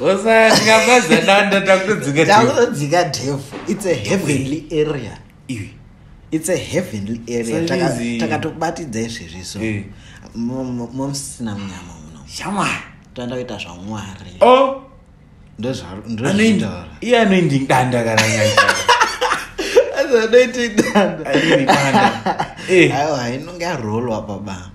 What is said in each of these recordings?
osatingamazananda takutodzika takutodzika dev its a heavenly area iwe its a heavenly area takatobatidza izvezvi so eh. momsina munyama muno shama toenda kuita zvamwari oh. ndozvanoindaura iye anoindi danda kana anoiti danda eh. aiwa inonge arolwa pabaa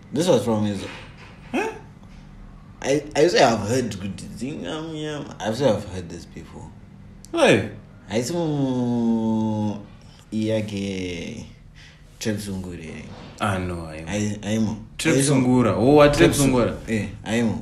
this was from his huh? I, I say I've heard kuti dzingamyama I say I've heard this before hey. haisi mu iyake trepsungura here ah, no, aimo trepsungura oh, wa trepsungura eh, aimo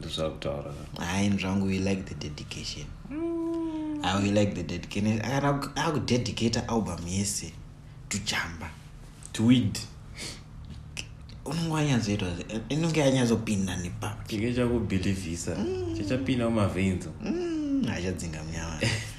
ndozvakutaura hayi zvangu we like the dedication mm. i will like the dedication akudedicate album yese tuchamba tweed unenge wanyatsoitwa inenge yanyatsopinda nepapi chenge chakubhilivhisa mm. chachapinda mumavenzo mm, achadzinga munyama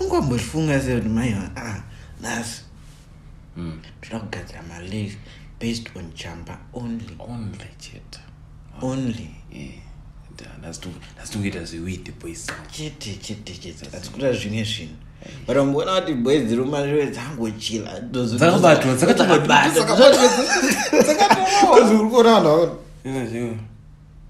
ungambozvifunga se kuti mai ah, nhasi hmm. toda kugadzira malegs based on chamba only only chete only ndazvitongoita zviwithe boys chete chete chete azikuta zvimwe zvinhu but amboona kuti boys dziri mumashure dzangochila dzakabatwa dzakatobatwa dzakatobatwa dzakatobatwa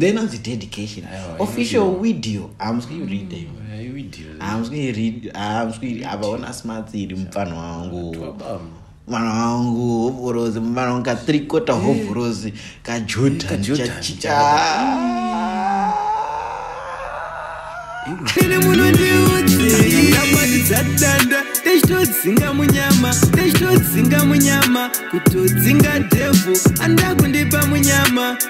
then anzi dedication official video hamuswi read hamuswi read hamuswi havaona smarts iri mupfanha wangu mwana wangu hovhorozi mwana wangu katrikota eh. hovhorozi kajotanchachicha ine muno ndiuiamatizadanda techitodzinga munyama techitodzinga munyama kutodzinga devhu andakundipa munyama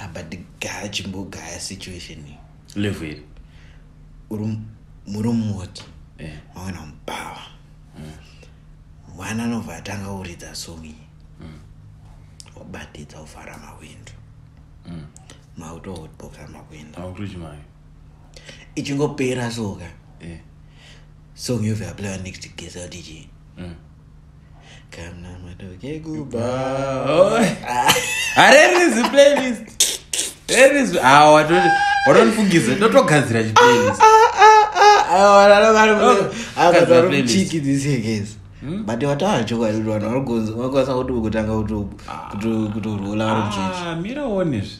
apa ndigara chimbogaya situation iyi level iri uri murumoti eh. mawana mubawa mm. mwana anobva atanga uridza song iyi mm. wabatidza ufara mawindu mm. mauto otboka makwinda ichingopera soka eh. song yovyaplaya next gesa kuti chii kana matoke kubhawa harerizi playlist rerizi awa watoti watonifungidza totogadzira chiplaylist Kadzira playlist. chiki this year guys Hmm? but wataura chokwadi kuti vanhu varikwanisa kuti kutanga kuto- kuto- kutorwula vari muchechi Ah, mira uonezve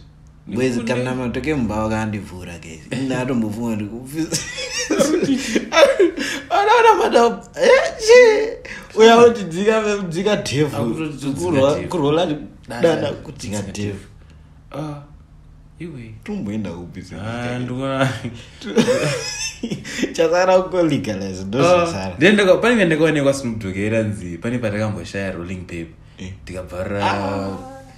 Mwezi kana matoke mumba vakandivhura guys. Ina atombofunga ndi kufisa. Ana ana madam. Eh. Uya kuti dzika dzika devil. Kurwa kurwa dana kuti dzika devil. Ah. Iwe. Tumboenda kupisa. Ah ndwa. Chasara uko legalize ndosara. Ah, Ndenda kwa pane ndakaonekwa simudhokera nzi pane patakamboshaya rolling paper. Eh. Tikabvara. Ah.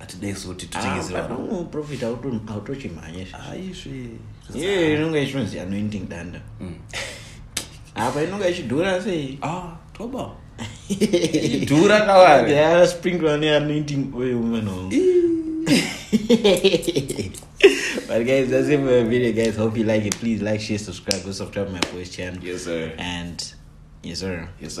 atidai so kuti titengeserwaprofit ah, autochimhanye iye inonge ichonzi anointing danda hmm. apa inonge ichidhura sei ah, toba idhura kawaspringle ne anointing oil mano but guys that's it for the video guys hope you like it please like share subscribe go subscribe my voice channel yes sir and yes sir yes sir